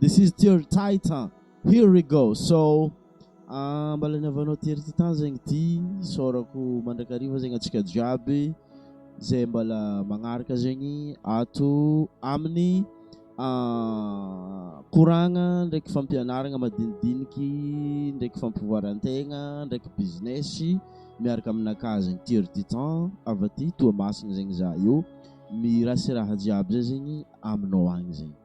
This is Tery Titan, here we go! So, mba laniavanao Tery Titan zegny ty, isaorako mandrakariva zegny antsika jiaby zay mbala magnaraka zegny ato amin'ny koragna ndraiky fampianaragna madinidiniky ndraiky fampivoaran-tegna ndraiky business miaraka aminakà zegny Tery Titan avy aty Toamasina zegny za io, mirasiraha jiaby zay zegny aminao agny zegny.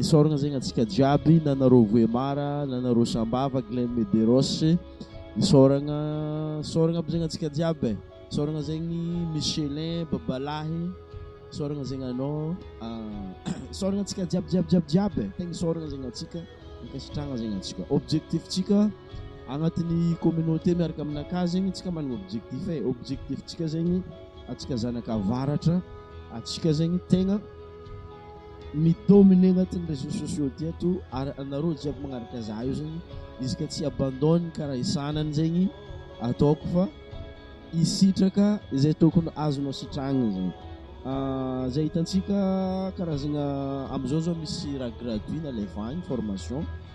Isaorana zegny antsika jiaby na anareo Vohémar na anareo Sambava, Glenn Medeiros, isaorana isaorana aby zegny antsika jiaby e, isaorana zegny Michelin babalahy, isaorana zegny anao isaorana antsika jiaby jiaby jiaby jiaby e, tegna isaorana zegny antsika, ankasitrahana zegny antsika, objectif ntsika agnatin'ny communauté miaraka aminakà zegny antsika manana objectif e, objectif ntsika zegny antsika zanak'avaratra antsika zegny tegna. mi-dominer anatin'ny réseaux sociaux ty ato ary anareo jiaby magnaraka za io zegny izy ka tsy abandonne ka raha isanany zegny ataoko fa hisitraka izay tokony azonao sitrahagna zegny zay hitantsika karazagna amizao zao misy raha gratuit nalevahigny formation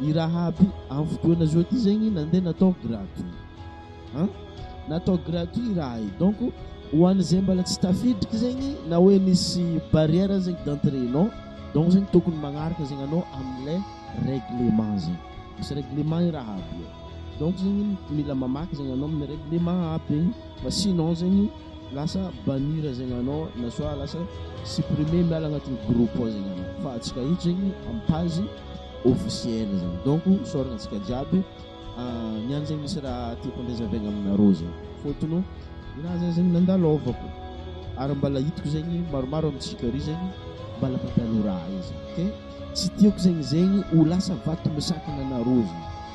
i Rahaby amin'ny fotoana zao ty zegny nandeha natao gratuit an! natao gratuit raha io donc ho an'izay mbala tsy tafiditry zegny na hoe misy barrière zegny d'entrée non donc zegny tokony magnaraka zegny anao amin'ilay règlement zegny, misy règlement i Rahaby io donc zegny mila mamaky zegny anao amin'ny règlement aby fa sinon zegny. Lasa bannir zegny anao na soit lasa supprimer miala agnatin'ny groupe ao zegny anao fa antsika eto zegny amin'ny page officielle zegny donc isaoragna antsika jiaby niany zegny misy raha tiako andrazaviagna aminareo zegny fôtony ninah zah zegny nandalôvako ary mbala hitako zegny maromaro amintsika ary zegny mbala mandalo raha io zegny ok tsy tiako zegny zegny ho lasa vato misakana anareo zegny.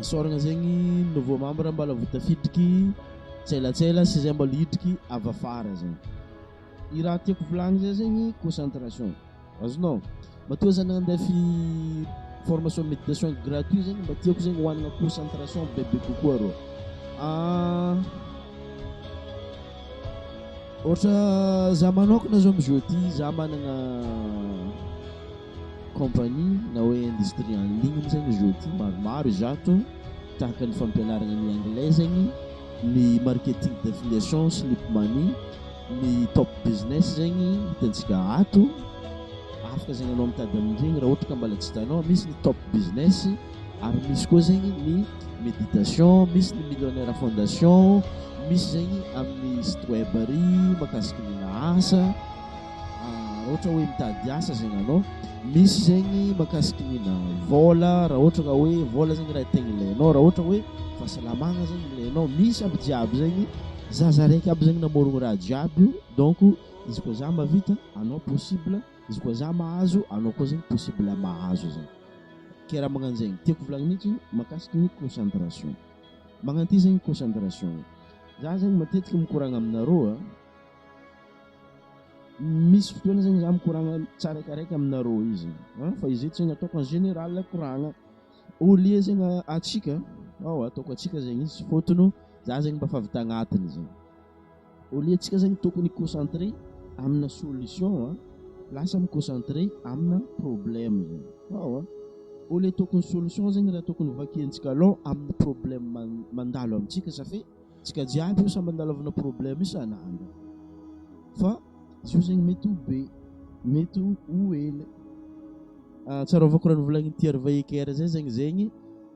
Isaorana zegny nouveau membre mbala vao tafiditry tselatsela sy zay mbala hiditry avy afara zegny. Ny raha tiako volagny zay zegny concentration. Azonao? Matoa za nandeha fi formation méditation gratuit zegny mba tiako zegny hohanagna concentration bebe kokoa rô. Ah, ohatra za manokana zao amizao ty za managna Compagnie na hoe industrie en ligne moa zany izy io maromaro izato tahaka ny fampianarana ny anglais zegny, ny marketing d'affiliation, slip money, ny top business zegny hitantsika ato afaka zegny anao mitady amin'iregny raha ohatra ka mbola tsy hitanao, misy ny top business ary misy koa zegny ny méditation, misy ny millionnaire fondation, misy zegny amin'ny site web ary mahakasiky ny asa. Raha ohatra hoe mitady asa zegny anao, misy zegny mahakasiky ny na vôla, raha ohatra ka hoe vôla zegny raha tegna ilainao, raha ohatra hoe fahasalamagna zegny ilainao, misy aby jiaby zegny, za za raiky aby zegny namôrogno raha jiaby io donc izy koa za mahavita anao possible, izy koa za mahazo anao koa zegny possible mahazo zegny, ke raha magnano zegny, tiako hovolagnina mintsy mahakasiky ny concentration, magnano ty zegny concentration, za zegny matetiky mikoragna aminareo a. Misy fotoana zegny za mikoragna tsiraikaraiky aminareo io zegny an, fa izy io tsy nataoko en général koragna, au lieu zegny antsika ao ataoko antsika zegny izy fôtony za zegny mba efa avy tagnatiny zegny, au lieu tsika zegny tokony hi concentrer amina solution an, lasa mi concentrer amina problème zegny ao an, au lieu tokony solution zegny raha tokony vakiantsika aloha amin'ny problème mandalo amintsika sa fe. Tsika jiaby io samy analavana problème isan'andro fa zio zegny mety ho be mety ho hely ah, tsarovako raha novolagnin'i Thierry Vaheker zay zegny zegny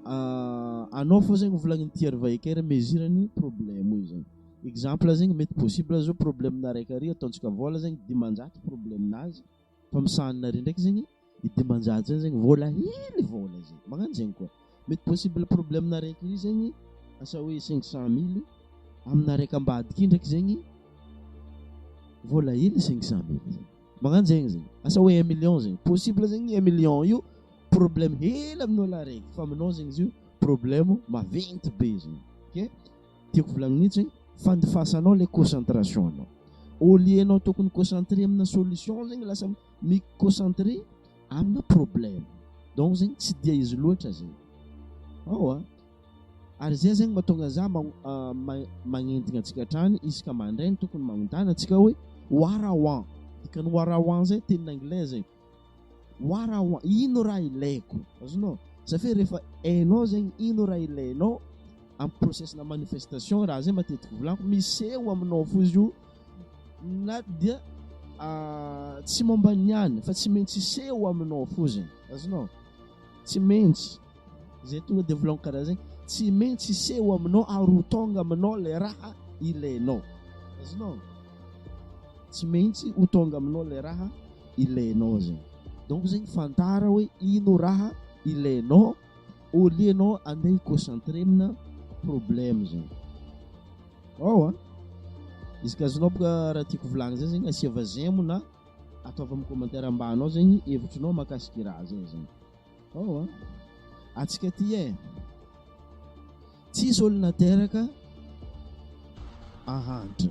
ah, anao fô zegny novolagnin'i Thierry Vaheker mesure ny problème io zegny exemple zegny mety possible zao problème-na araiky ary ataontsika vôla zegny dimanjato problème-nazy fa misahanina ary ndraiky zegny ny dimanjato zany zegny vola hely vola zay magnano zegny koa mety possible problème araiky io zegny asa hoe cinq cent mille amina araiky ambadika io ndraiky zegny vola hely cinq cent mille magnano zegny zegny asa hoe un million zegny possible zegny un million io problème hely amin'ny olona araiky fa aminao zegny izy io problème maventy be zegny ke tiako volagniny io zegny fandifasanao le concentration-nao au lieu-nao tokony mi-concentrer amina solution zegny lasa mi concentrer amina problème donc zegny tsy dia izy loatra zegny ao a ary zay zegny mahatonga za magnentigna antsika hatrany isaka mandraigny tokony magnotany antsika hoe warawan dikany warawan zay teny anglais zegny warawan ino raha ilaiko azonao zafia rehefa hainao zegny ino raha ilainao amin'ny procesna manifestation raha zay matetiky volako miseho aminao fo izy io na dia ah, tsy momba ny any fa tsy maintsy hiseho aminao foziny azonao tsy maintsy zay tonga de volagno karaha zegny tsy maintsy hiseho aminao ary ho tonga aminao le raha ilainao azonao tsy maintsy ho tonga aminao le raha ilainao zegny donc zegny fantara hoe ino raha ilainao Au lieu anao andeha hi-concentrer amina problème zany. Ao an! Izy ka azonao boka raha tiako volagny zay zegny asiava j'aime na ataova amin'ny commentaire ambany ao zegny hevitrinao mahakasika i raha zay zany. Ao an! Atsika ty eh! Tsisy olo nateraka ahantra.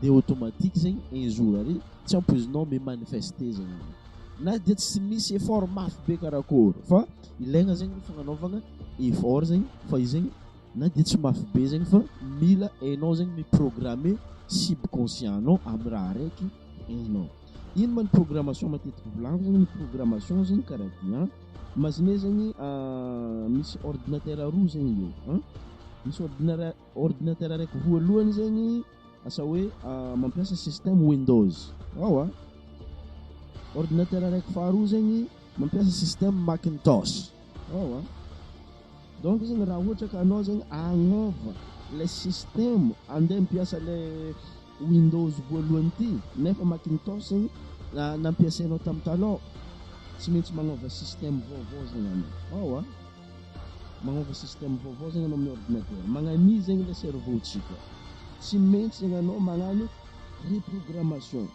Dia automatique zegny un jour ary tsy ampoizinao mi manifester zegny izy na dia tsy misy effort mafy be karakôry fa ilaigna zegny ny fagnanaovagna effort zegny fa izy zegny na dia tsy mafy be zegny fa mila hainao zegny mi programmer subconscient anao amy raha araiky hainao. Ino ma ny programmation matetiky volagniko zegny ny programmation zegny karaha ty an imaginez zegny misy ordinateur roa zegny eo an misy ordinara-. Ordinateur araiky voalohany zegny asa hoe mampiasa système windows ao a. Ordinateur araiky faharoa zegny mampiasa système macintosh ao a. Donc zegny raha ohatra ka anao zegny agnova ilay système andeha ampiasa ilay Windows voalohany ity nefa Macintosh nampiasainao tam taloha, tsy maintsy magnova système vaovao zegny anao ao a, magnova système vaovao zegny anao amin'ny ordinateur, magnania zegny le cerveau tsika, tsy maintsy zegny anao magnano reprogrammation,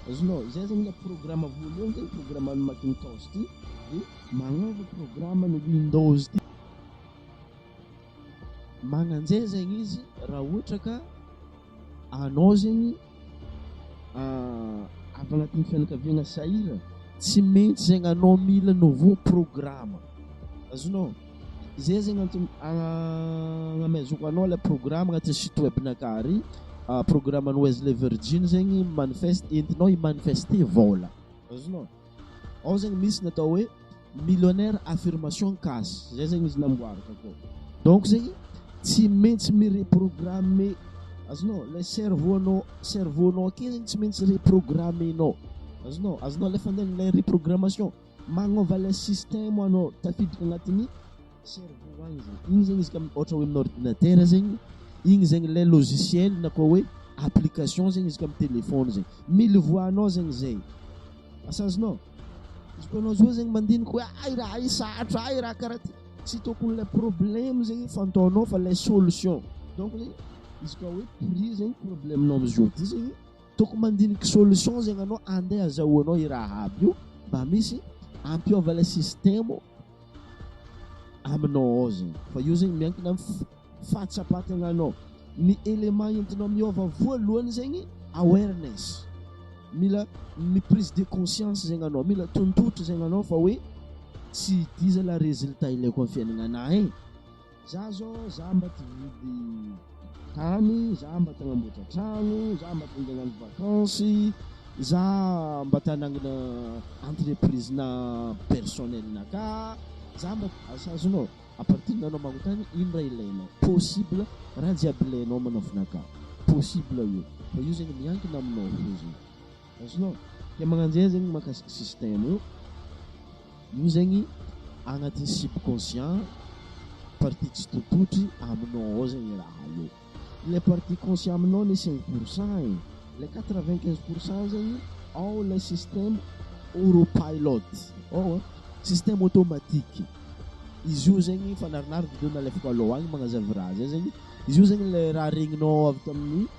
azonao, zay zegny le programme voalohany zegny programme an'ny Macintosh ity de magnova programme an'ny Windows ity, magnanjay zegny izy raha ohatra ka Anao zegny avy agnatin'ny fianakaviagna sahiragna, tsy maintsy zegny anao mila nouveau programme, azonao? Zay zegny antony agnamezako anao ilay programme agnatin'ny site web-nakà ary, programme an'i Wesley Virgin zegny manifeste entinao hi-manifester vôla, azonao? Ao zegny misy ny atao hoe millionaire affirmation cas zay zegny izy namboariko akao. Donc zegny tsy maintsy mi-reprogrammer azonao ilay cerveau-nao cerveau-nao akeo zegny tsy maintsy reprogrammer-nao azonao azonao alefa andeha ilay reprogrammation magnova ilay système anao tafiditra agnatin'ny Cerveau ho agny zegny, igny zegny izy ka ôhatra hoe amin'ny ordinatera zegny, igny zegny lay logiciel na koa hoe application zegny izy ka amin'ny telefaony zegny, mily voix-nao zegny zay, asa azonao? Izy koa anao zao zegny mandinika hoe hay raha io sarotra, hay raha karaha ty, tsy tôkony lay problème zegny fantaonao fa lay solution, donc zegny izy koa hoe prier zegny problème-nao am'zao ty zegny, tôkony mandiniky solution zegny anao, andeha azahoanao i raha aby io mba misy ampiôva lay système. aminao ao zegny fa io zegny miankina am fahatsapan-tegnanao ny élément entinao miôva voalohany zegny awareness mila ny prise de conscience zegny anao mila tontotra zegny anao fa hoe tsy ity zala résultat ilaiko am fiaignananahy e Za zao za mba te hividy tany, za mba te hanamboatra trano, za mba te handeha hagnano vacances, za mba te hanangana entreprise-na personnel-na ka, za mba asa azonao à partir anao magnontany ino raha ilainao, possible raha jiaby ilainao manafina ka, possible io fa io zegny miankina aminao fô zegny. Azonao? Dia magnano zay zegny mahakasika système io, io zegny agnatin'ny subconscient partie tsy tototry aminao ao zegny raha io. Ilay partie conscient aminao le cinq pour cent e, ilay quatre vingt quinze pour cent zegny ao ilay système auropilot ao a, système automatique, izy io zegny fanarinary vidéo nalefako alou agny magnazava raha zay zegny, izy io zegny le raha regninao avy tamin'ny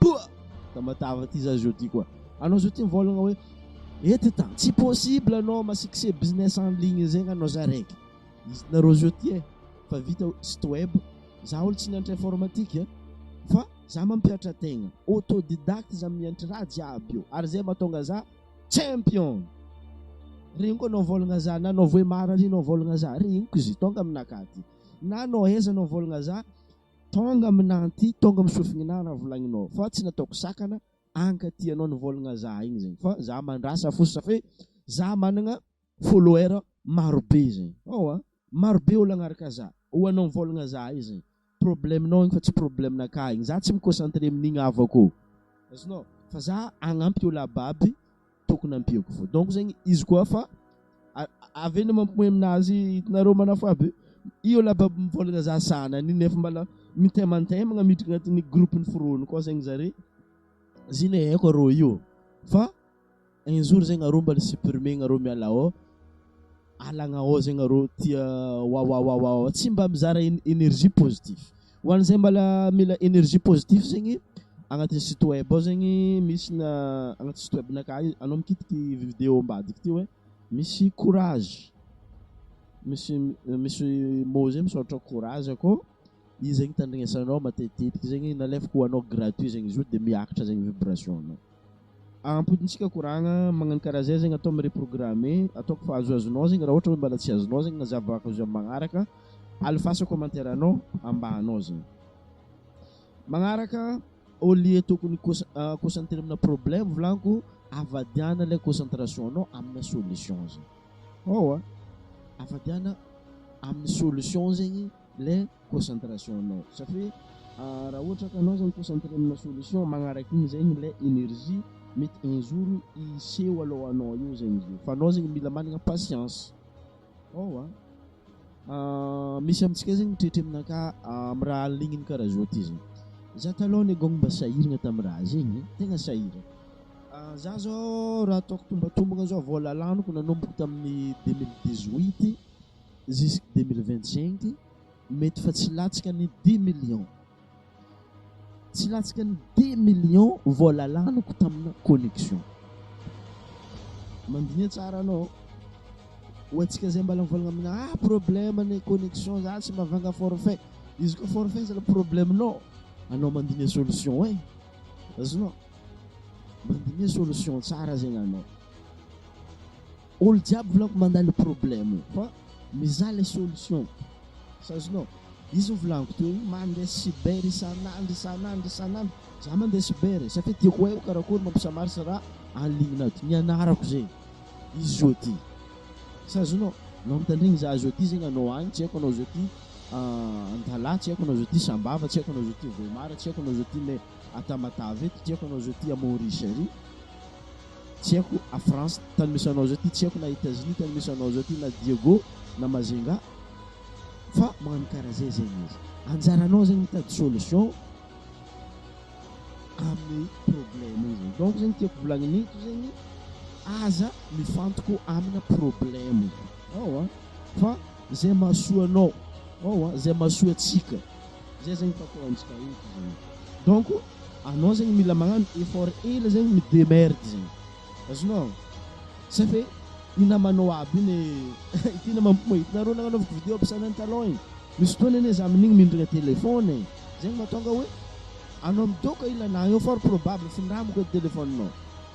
Toa! Tamatave ty za jeudi koa. Anao zao ty mivolagna hoe eto tany tsy possible anao masikse business en ligne zegny anao za raiky. Izy nareo zao ty e fa vita site web za olo tsy nianatra informatique a fa za mampihatra tegna autodidacte za mianatra raha jiaby io ary zay mahatonga za champion. Regniko anao mivolagna za na anao voemary ary anao mivolagna za regniko izy tonga aminakahy ty na anao aiza anao mivolagna za Tonga aminà anty, tonga amin'ny sofin'inà raha volagninao fa tsy nataoko sakana anka tianao nivôlagna zah igny zegny fa zah mandrasa fo safo e, zah managna follower marobe zegny ao a, marobe olo agnaraka zah, ho anao mivôlagna zah io zegny problème-nao igny fa tsy problème-nakà igny, zah tsy mi-concentrer amin'igny havako ô, azonao? fa zah hagnampy olo aby aby. Tokony ampiako voa donc zegny izy koa fa avy eo mampomoy aminazy itanareo manafo aby io la bab mivôlagna za sanany io nefa mbala mitemantembagna miditra agnatin'ny groupe ny foroniko ao zegny zare zay le haiko arô io fa un jour zegny arô mbala supprimer-gna arô miala ao alagna ao zegny arô tia wawawawa tsy mba mizara energie positif. Ho an'izay mbala mila energie positif zegny agnatin'ny site web ao zegny misy na agnaty site web naka anao mikitiky video ambadika ty hoe misy courage misy misy mot zay misaotra courage akô izy zegny tandrignesanao matetitetiky zegny nalefako ho anao gratuit zegny izy io de miakatra zegny vibration nao Ampy ntsika koragna magnano karaha zay zegny atao mi reprogrammer ataoko fa azoazonao zegny raha ohatra hoe mbala tsy azonao zegny na zavako izy amin'ny magnaraka alefaso commentaire anao ambahanao zegny magnaraka au lieu tokony concentrer amina problème volaniko avadiana ilay concentration anao amina solution zegny oa avadiana amin'ny solution zegny le concentration anao satria raha ohatra ka anao zany concentré amina solution magnaraka igny zegny le énergie mety un jour hiseho alohanao eo zegny izy io fa anao zegny mila managna patience ao a misy amintsika zegny mitretre aminakà amy raha aligniny karaha zao ty zegny za taloha anie gôgny mba sahiragna tamy raha zegny tegna sahiragna za zao raha ataoko tombatombagna zao vôla laniko nanomboka tamin'ny deux mille dix huit jusque deux mille vingt cinq Mety fa tsy latsaka ny dix millions. Tsy latsaka ny dix millions vola laniko tamina connexion. Mandiniha tsara anao. Ho antsika zay mbala mivolagna amina ah problème ny connexion za tsy mavanga forfait. Izy koa forfait zala problème nao. Anao mandiniha solution eh. Azonao? Mandiniha solution tsara zegny anao. Olo jiaby volampy mandà le problème io fa mizaha le solution azonao izy ny volaniko teo io mande cyber isanandro isanandro isanandro za mande cyber e satria tiako haiko karakory mampisamarisa ra en ligne nato nianarako ze izy oa ty sa azonao anao mitandregny za azo aty zegny anao agny tsy haiko anao azo aty antalaha tsy haiko anao azo aty sambava tsy haiko anao azo aty voimara tsy haiko anao azo aty me atamatave eto tsy haiko anao azo aty à maurice ary tsy haiko a France tany misy anao zao ty tsy haiko na Etats-Unis tany misy anao zao ty na Diego na Majunga fa magnano karaha zay zay ny izy anjaranao zegny mitady solution amin'ny problème io zegny donc zegny tiako volagniny eto zegny aza mifantoko amina problème ao a fa zay mahasoa anao ao a zay mahasoa antsika Zay zegny pako antsika eto zegny. Donc anao zegny mila magnano effort hely zegny mi-demerde zegny. Azonao? Sa fe i namanao aby igny ity namako koa hitanareo nagnanaovako vidéo aby sanany talon igny. Misy fotoana anie za amin'igny mindrana téléphone e. Zegny mahatonga hoe anao midôka i lalahy io fort probable findramako edy téléphone-nao.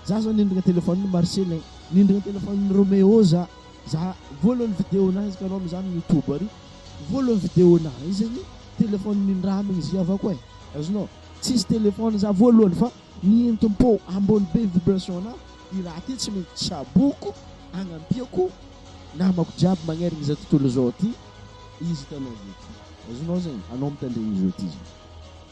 Za zao nindrana téléphone-n'i Marcellin, nindrana téléphone-n'i Roméo za. Za voalohany video nahy izy kanao mizany youtube ary voalohany video nahy izy ny téléphone ny ndra aminy izy avako eh azonao tsisy téléphone za voalohany fa ny entim-po ambony be vibration na i raha ty tsy mety tsaboko agnampiako namako jiaby magnerigny za tontolo zao ty izy hitanao zao ty azonao zegny anao mitandregny zao ty zany.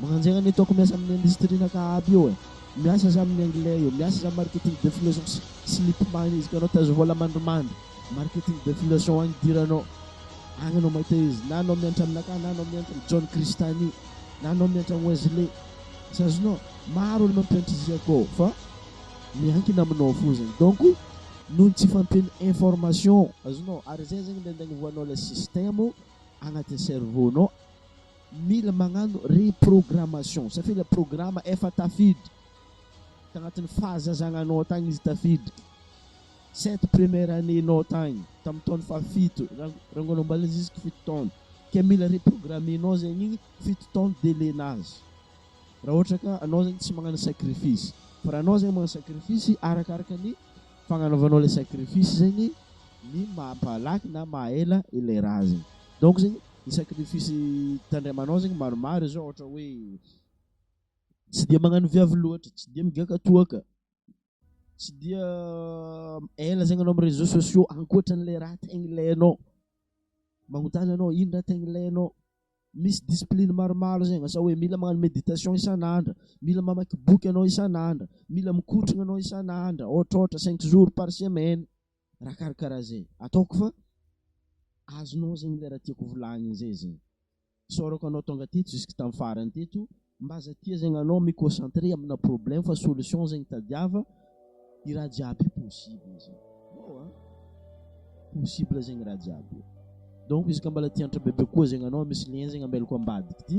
Mananjera ny ataoko miasa amin'ny industrie na ka aby io e! Miasa za amin'ny anglais io, miasa za marketing de fileçon sy slip mine izy ka anao tazo vola mandrimandry marketing de fileçon agny idiranao agny anao mahita izy na anao miantra aminakahy na anao miantra am John Christany na anao miantra am Wesley tsy azonao maro olo mampiantra izy akao fa miankina aminao fozany donc noho ny tsy fampian'ny information azonao ary zay zegny le andagnavoanao le système agnatin'ny cerveau nao. Mila magnano reprogrammation satria ilay programa efa tafiditra tagnatin'ny fahazazagnanao tagny izy tafiditra sept première année nao tagny tamin'ny taona fahafito rangoan'amboalina jusque fito taona ke mila reprogrammer nao zegny igny fito taona délai nazy raha ohatra ka anao zegny tsy magnano sacrifice fa raha anao zegny magnano sacrifice arakaraka ny fagnanaovanao le sacrifice zegny ny mampalaky na mahaela ilay raha zegny donc zegny ny sacrifice tandremanao zegny maromaro zao ohatra hoe tsy dia magnano viavy loatra, tsy dia migiaka toaka, tsy dia ela zegny anao amin'ny réseaux sociaux ankoatran'le raha tegna ilainao, magnontany anao ino raha tegna ilainao, misy discipline maromaro zegny asa hoe mila magnano méditation isan'andro, mila mamaky boky anao isan'andro, mila mikotrana anao isan'andro, ôhatrôhatra cinq jours par semaine. raha karakaraha zay ataoko fa azonao zegny le raha tiako volagniny zay zegny. Isaorako anao tonga teto jusque tam farany teto mba aza tia zegny anao mi concentrer amina problème fa solution zegny tadiava i raha jiaby io possible zegny wow a! possible zegny raha jiaby io donc izy ka mbola tia antra bebe koa zegny anao misy lien zegny ambelako ambadiky ty.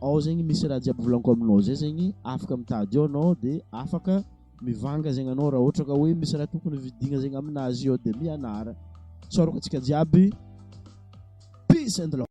ao zegny misy raha jiaby volaniko aminao zay zegny afaka mitady eo anao de afaka mivanga zegny anao raha ohatra ka hoe misy raha tokony vidigna zegny aminazy eo de mianara tsaroko antsika jiaby peace and love